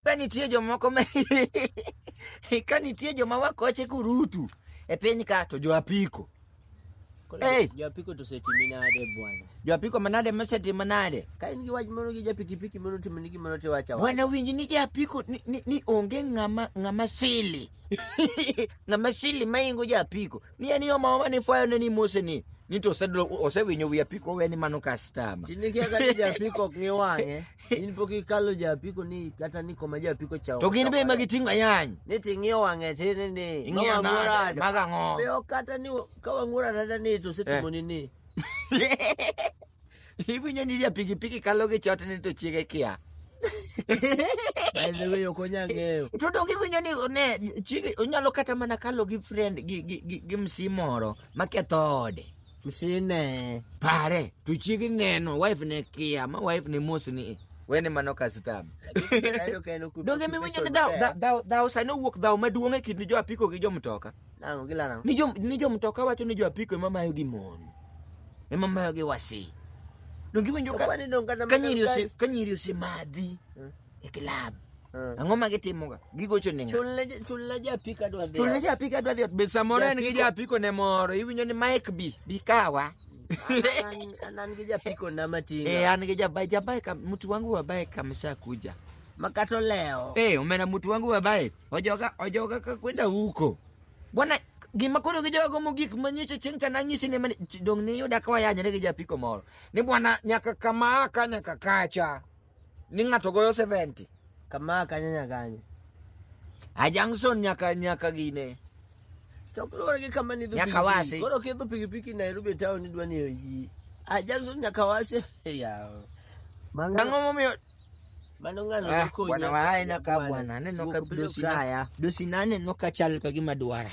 ka nitie jomoko ma ka nitie joma wakoche kurutu e piny ka to jo apiko Hey! Japiko to setimi nade bwana? jo apiko manade masetimo nade Ka in gi wach moro gi japikipiki moro timo ni gimoro to wacha wacha. wana winji ni japiko ni, ni, ni onge ng'ama ng'ama sili ng'ama sili maingo japiko ni en yo maoma ni fwayo ne ni mose ni ni to osedlo- osewinyo wi apiko weni mano kastama Tini kia ka ni japiko ok ng'i wang'e. in pok ikalo ja apiko ni kata ni koma ja apiko cha to gin be ma giting'o ayany ni ting'iyo wang'e tini ni ing'iyo nade mag ang'o be ok kata ni ka wang'ura tata ni to setimo ni ni iwinyo ni ja pikipiki kalo gi chot ni to chiege kia Baidewe ok onya ng'eyo. To donge iwinyo ni ne chiege onyalo kata mana kalo gi friend gi gi gi, gi msi moro maketho ode. Tusine. Pare, tuchigi neno, wife ne kia, ma wife ne mos ni. Wene mano kastam. Donge mi winyo ni thou, thou, thou, thou, sani owuok thou maduong' e kind jo apiko gi jo mtoka. Nango gilano. Ni jo, ni jo mtoka wacho ni jo apiko ema mayo gi mon. Ema mayo gi wasi. Donge iwinjo ka, Okwani donga na ka nyiri ose, ka nyiri ose madhi. e club. Eh. Ang'o ma gitimoga? Gigocho ne ng'a? Chulne ja- chulne japik adwa dhi. Chulne japik adwa dhi ot. Be samoro en gi Japiko. japiko ne moro. Iwinjo ni Mike bi, bi kawa. An- an- an gi japiko na Eh, matinga. an gi jabae, jabae kam, mtu wangu wa bae kamesha kuja. Makato leo. Eh, umeona mtu wangu wa bae. Ojoga, ojoga ka kwenda huko. Bwana gima koro gi jogo mogik manyicho chieng' cha nanyisi ni mani dong' ni yuda ka wayanyre gi japiko moro. Ni bwana nyaka kama ka nyaka kacha. ni ng'ato goyo 70 kama kanye nyakanye a junction nyaka nyaka gine to kaluwore gi kama nidho Nyaka wasi. koro kidho pikipiki nairobi town idwa ni oyi a junction nyaka wasi yawo Mang'ano- ang'o momiyo mano ng'ano Ah, nokonyi bwana wa aina ka Bwana. bwana aneno ka Wuok dosi na- Kaya. dosi na aneno ka chal ka gima dwara